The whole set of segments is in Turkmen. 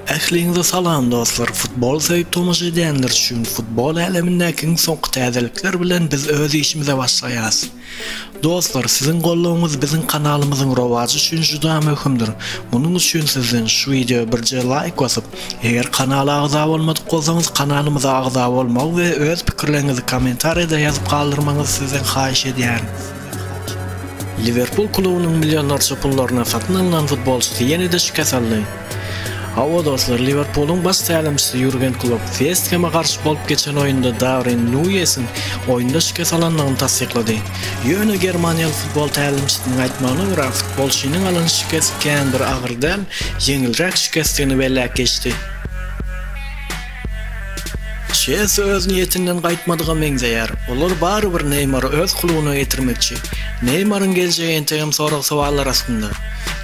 Ähliňize salam dostlar futbol söýüp tomaşa edýänler üçin futbol älemindäki iň soňky täzelikler bilen biz öz işimize başlaýas dostlar siziň goldawyňyz biziň kanalymyzyň rowajy üçin juda möhümdir munuň üçin sizden şu wideo birje laýk basyp eger kanala agza bolmadyk bolsaňyz kanalymyza agza bolmagy we öz pikirleriňizi kommentariýada ýazyp galdyrmagyňyzy sizden haýyş edýärin. Liwerpul klubunyň millionlarça pullaryna satyn alnan futbolçysy ýene-de şikes aldy. Hawa, dostlar, Liwerpulyň baş tälimçisi Ýurgen Klopp West Heme garşy bolup geçen oýunda Darwin Nuýesiň oýunda şikes alandygyny tassyklady. Ýöne germaniýaly futbol tälimçisiniň aýtmagyna görä, futbolçynyň alan şikesi kän bir agyr däl, ýeňilräk şikesdigini belläp geçdi. Çesi öz niýetinden gaýtmadyga meňzeýär. Olar barybir Neýmary öz klubyna getirmekçi. Neýmaryň geljegi entegem sorag-sowallar astynda.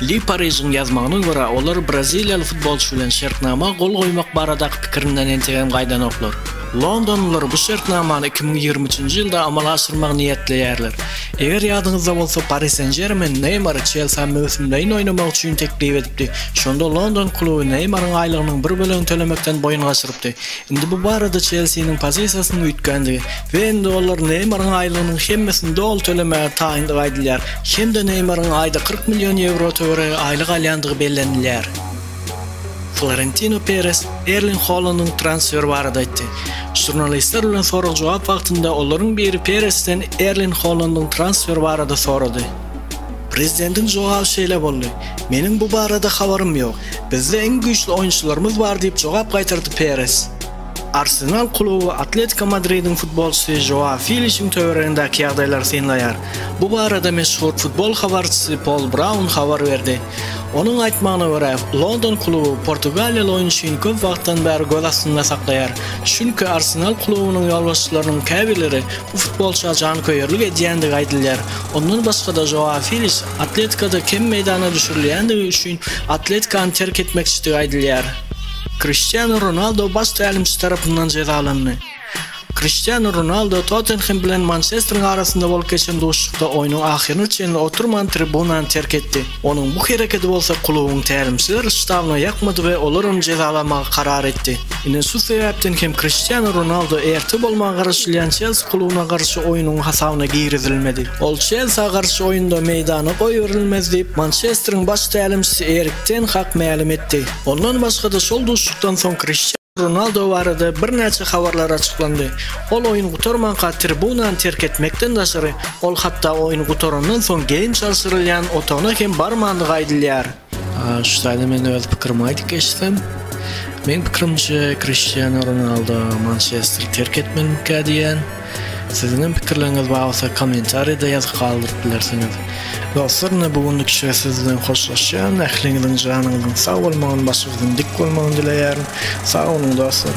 Le Paris'iň ýazmagyna görä, olar braziliýaly futbolçy bilen şertnama gol goýmak baradaky pikirinden entegem gaýdanoklar. Londonlylar bu şertnamany iki müň ýigrimi üçünji ýylda amala aşyrmagy niýetleýärler. Eger ýadyňyzda bolsa, Pari Sen-Žermen Neýmary Çelsä möwsümleýin oýnamak üçin teklip edipdi. Şonda london kluby Neýmaryň aýlygynyň bir bölegini tölemekden boýun gaçyrypdy. Indi bu barada Çelsiniň pozisiýasynyň üýtgändigi we indi olar Neýmaryň aýlygynyň hemmesini doly tölemäge taýyndygy aýdylýar hem-de Neýmaryň aýda kyrk million ýewro töweregi aýlyk alýandygy bellenilýär. Florentino Peres Erling Holandyň transferi barada aýtdy. Žurnalistler bilen sorag-jogap wagtynda olaryň biri Peresden Erling Holandyň transferi barada sorady. Prezidentiň jogaby şeýle boldy, Meniň bu barada habarym ýok. Bizde iň güýçli oýunçylarymyz bar diýip jogap gaýtardy Peres. Arsenal kluby Atletiko Madridiň futbolçysy Žoa Filişiň töweregindäki ýagdaýlary synlaýar. Bu barada meşhur futbol habarçysy Pol Braun habar berdi. Onuň aýtmagyna görä, london kluby portugaliýaly oýunçyny köp wagtdan bäri göz astynda saklaýar. Çünki Arsenal klubunyň ýolbaşçylarynyň käbirleri bu futbolça janköýerlik edýändigi aýdylýar. Ondan başga-da Žoa Filiş Atletikoda kem meýdana düşürilýändigi üçin Atletikany terk etmekçidigi aýdylýar. Kriştianu Ronaldo baş tälimçi tarapyndan jezalandy. Kriştianu Ronaldo Tottenhem bilen Mançesteriň arasynda bolup geçen duşuşykda oýnuň ahyryna çenli oturman tribunany terk etdi. Onuň bu hereketi bolsa klubuň tälimçiler ştabyna ýakmady we olar ony jezalamagy karar etdi. Ine şu sebäpden hem Kriştianu Ronaldo erte bolmaga garaşylýan Çelsi klubyna garşy oýnuň hasabyna girizilmedi. Ol Çelsa garşy oýunda meýdana goýberilmez diýip, Mançesteriň baş tälimçisi Erik ten Hag mälim etdi. Ondan başga-da şol duşuşykdan soň Kriştianu Ronaldo barada birnäçe habarlar açyklandy. Ol oýun gutarmanka tribunany terk etmekden daşary, ol hatda oýun gutarandan soň geýim çalşyrylýan otagyna hem barmandygy aýdylýar. Şu taýdan men öz pikirimi aýdyp geçsem, meň pikirimçe Kriştianu Ronaldo Mançesteri terk etmelikä diýýän. Siziňem pikirleriňiz bar bolsa kommentariýada ýazyp galdyryp bilersiňiz. Dostlar ine bu günlük işe siz bilen hoşlaşýan. Ähliňiziň janyňyzyň sag bolmagyny başyňyzyň dik bolmagyny dileýärin. Sag boluň dostlar.